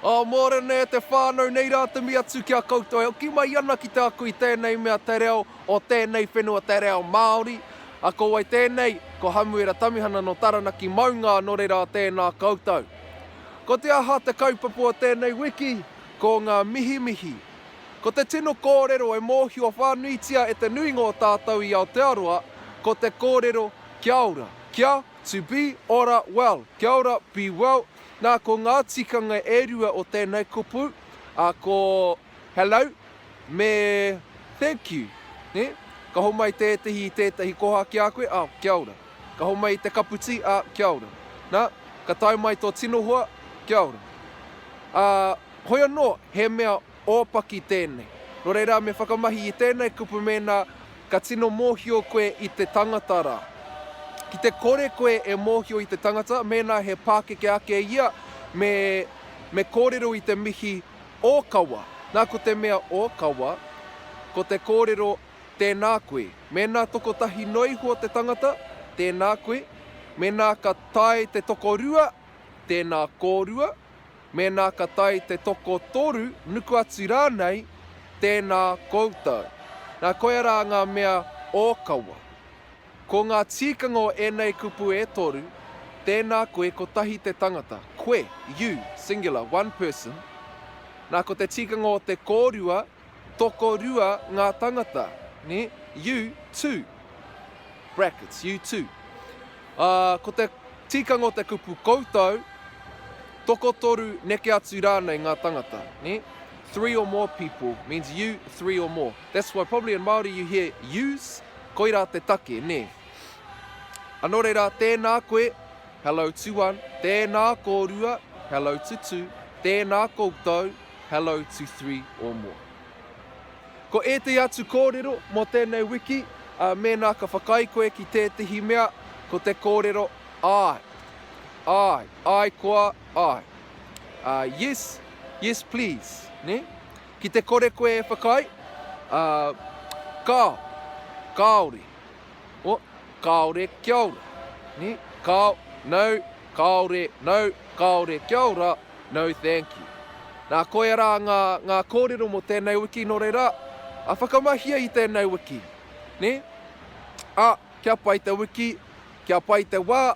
Ā, mōrena e te whānau nei rā te mea atu ki a koutou e hoki mai ana ki te ako i tēnei mea te reo o tēnei whenua te reo Māori. A ko wai tēnei? Ko Hamuera Tamihana nō Taranaki maunga nō reira tēnā koutou. Ko te aha te kaupapa o tēnei wiki? Ko ngā mihimihi, Ko te tino kōrero e mōhio whānuitia e te nuinga o tātou i Aotearoa, ko te kōrero Kia ora, kia, to be, ora, well, kia ora, be well, nā ko ngā tikanga e rua o tēnei kupu, ā, ko Hello me Thank you, nē? Ka homai tētehi i tētehi koha ki a koe, ā, kia ora. Ka homai i te kaputī, ā, kia ora. Nā, ka tae mai tō tino hoa, kia ora. Ā, Hoi anō, he mea ōpaki tēnei. Nō reira, me whakamahi i tēnei kupu mēnā ka tino mōhio koe i te tangata rā. Ki te kore koe e mōhio i te tangata, mēnā he pākeke ake ia, me, me kōrero i te mihi ōkawa. Nā, ko te mea ōkawa, ko te kōrero tēnā koe. Mēnā tokotahi noa iho te tangata, tēnā koe. Mēnā ka tae te tokorua, tēnā kōrua. Mēnā ka tae te toko toru, nuku atu rānei, tēnā koutou. Nā, koia rā ngā mea ōkawa. Ko ngā tīkanga o ēnei kupu e toru, tēnā koe kotahi te tangata, koe, you, singular, one person. Nā, ko te tīkanga o te kōrua, Tokorua ngā tangata, nē, you too, brackets, you too. Ā, ko te tikanga o te kupu koutou, tokotoru neke atu rānei ngā tangata, nē? Three or more people means you three or more. That's why probably in Māori you hear yous, koirā te take, nē? A nō reira, tēnā koe, hello to one, tēnā kōrua, hello to two, tēnā koutou, Hello to three or more. Ko ētahi atu kōrero mō tēnei wiki, ā, mēnā ka whakaae koe ki tētahi mea, ko te kōrero Āe, āe, āe koa, āe. Ā, Yes, yes please, nē? Ki te kore koe e whakaae, ā, Kāo, kāore. Oh, kāore, kia ora. Ni, Kāo, no, kāore, no, kāore, kia ora, no thank you. Nā, koia rā ngā, ngā kōrero mō tēnei wiki nō reira, a whakamahia i tēnei wiki. Ni, A, kia pai te wiki, kia pai te wā,